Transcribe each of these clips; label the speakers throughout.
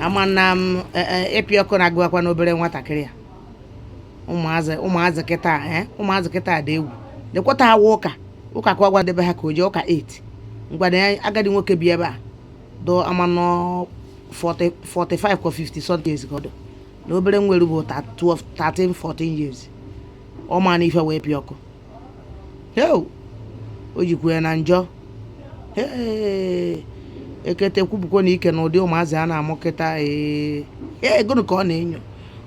Speaker 1: ama na m e, e, ịpị ọkụ na-agụakwanụ obere nwatakịrị a ụmụazị ụmụazị kịta a, eh, ụmụazị kịta a dị egwu lekwa taa wụ ụka ụka ka ọ gwa ndị be ha ka o jee ụka 8 ngwada ya agadi nwoke bi ebe a dụ ama nọ 40 45 ka 50 something years ka ọ dụ na obere nwere bụ 12 13 14 years ọ mana ife wụ ịpị ọkụ heo o jikwa ya na njọ hee ekete ekwupukwana ike na ụdị ụmụazị a na-amụ kịta ee ee gụnụ ka ọ na-enyo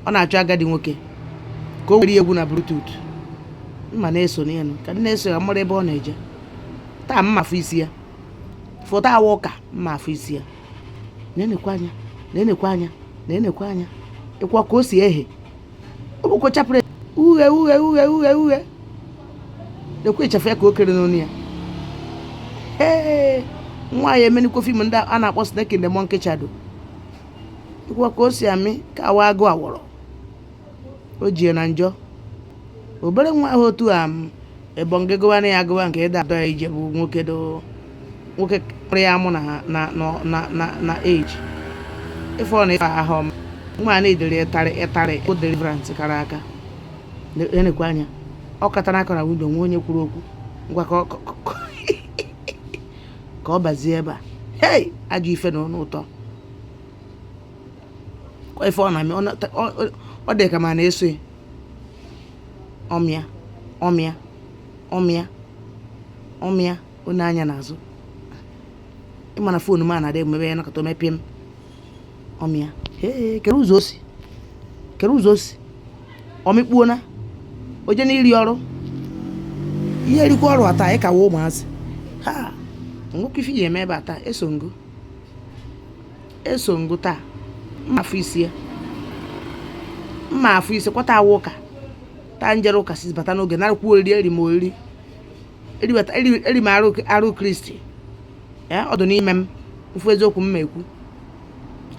Speaker 1: ọ na-achọ agadi nwoke ka o were ya egwu na bluetooth m ma na-eso n'elu ka m na-eso ya mara ebe ọ na-eje taa m ma-afụ isi ya fụ taa wụ ụka m ma-afụ isi ya na-enekwa anya na-enekwa anya na-enekwa anya nekwa ka o si ehe o bụko chapụrụ ya uhie uhie uhie uhie uhie lekwa ịchafụ ya ka o kere n'onu ya ee nwa ya emenikwo fim ndị a na-akpọ snake in the monkey shadow nekwa ka o si amị ka nwa agụ awọrọ o jie na njọ obere nwa ahụ otu a ebonge gụwana ya agụwa nke ịda adọ ya ije bụ nwoke doo nwoke kpụrụ ya mụ na ha na na na na age ife ọ na ife ahụ ọma nwa a needere ịtarị ịtarị o deliverance kara aka na-enekwa anya ọ kụtara aka na windo nwa onye kwuru okwu ngwa ka ọ bazie ebe a hei ajọ ife na ọnụ ụtọ ife ọ na-amị ọ dị ka ma na-eso ya ọ mịa ọ mịa ọ mịa ọ mịa o nee anya n'azụ ị ma na foonu m a na-adị emebe ya nakọta omepie m ọ mịa kere ụzọ o si kere ụzọ o si ọ mịkpuo na o je n'iri ọrụ ị ya-erikwa ọrụ taa anyị kawa ụmụazị ha nwoke ife ya-eme ebe a taa eso m gị o eso m gị o taa m ma-afụ isi ya m ma-afụ isi kwa taa wụ ụka taa m jere ụka si bata n'oge narakwa oriri eri m oriri eriweta eri eri m arụ arụ kristi ee ọ dị n'ime m mfu eziokwu m ekwu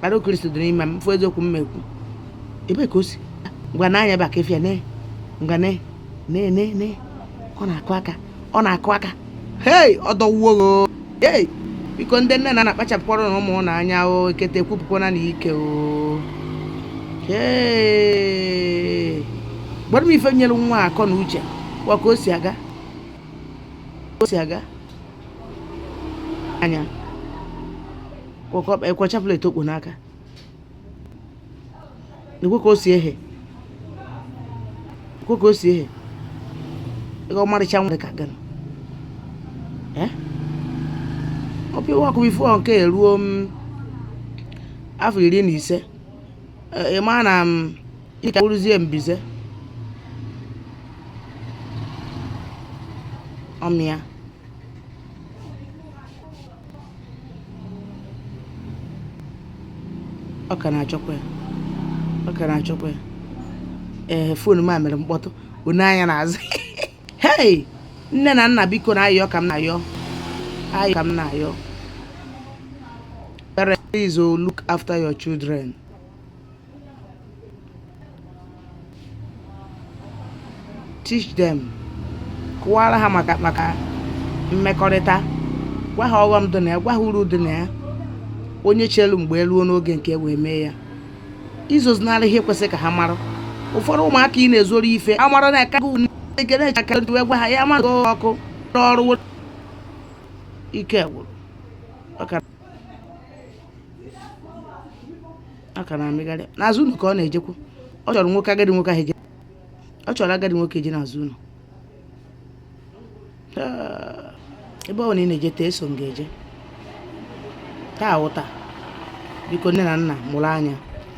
Speaker 1: arụ kristi dị n'ime m mfu eziokwu m ekwu ebe ka o si ngwa nee anya baka efia ne ngwa ne ne ne ne ọ na-akụ aka ọ na-akụ aka hei ọ dọwuo gị o. Hey, biko ndị nne na nna kpachapụkwaranụ ụmụ unu anya o ekete ekwupukwana ike o Hey. gwara m ife nyere nwa a akọ na uche nekwa ka o si aga o si aga anya kwọkọ nekwa chaplet o kpo n'aka ekwe ka o si ehe ekwe ka o si ehe ego ọmarịcha nwa ka gịnị Eh? ọ bụ iwe akụwa ifu nke eruo m afọ iri na ise Eh, ị ma na m ịka bụrụzie mbize ọ mịa ọ ka na-achọkwa ya ọ ka na-achọkwa ya ife ọ bụna mere mkpọtụ o nee anya n'azụ hei nne na nna biko na ayọ ka m na-ayọ ayọ ka m na-ayọ parents please oh, look after your children teach them kọwara ha maka maka mmekọrịta gwa ha ọghọm dị na ya gwa ha uru dị na ya onye chelu mgbe o ruo n'oge nke e wee mee ya ezozinara ihe kwesịrị ka ha mara ụfọdụ ụmụaka ị na-ezoro ife amara na aka gị wee gwa ha ya ma ọkụ ọrụ ike gwụrụ ọ ka na-amịgharị n'azụ ụlọ ka ọ na-ejekwu ọ chọrọ nwoke agadi nwoke ahụ eje ọ chọrọ agadi nwoke eje n'azụ ụlọ Ah, ebe ọ bụna ị na-eje taa eso m gị eje taa wụ taa biko nne na nna mụrụ anya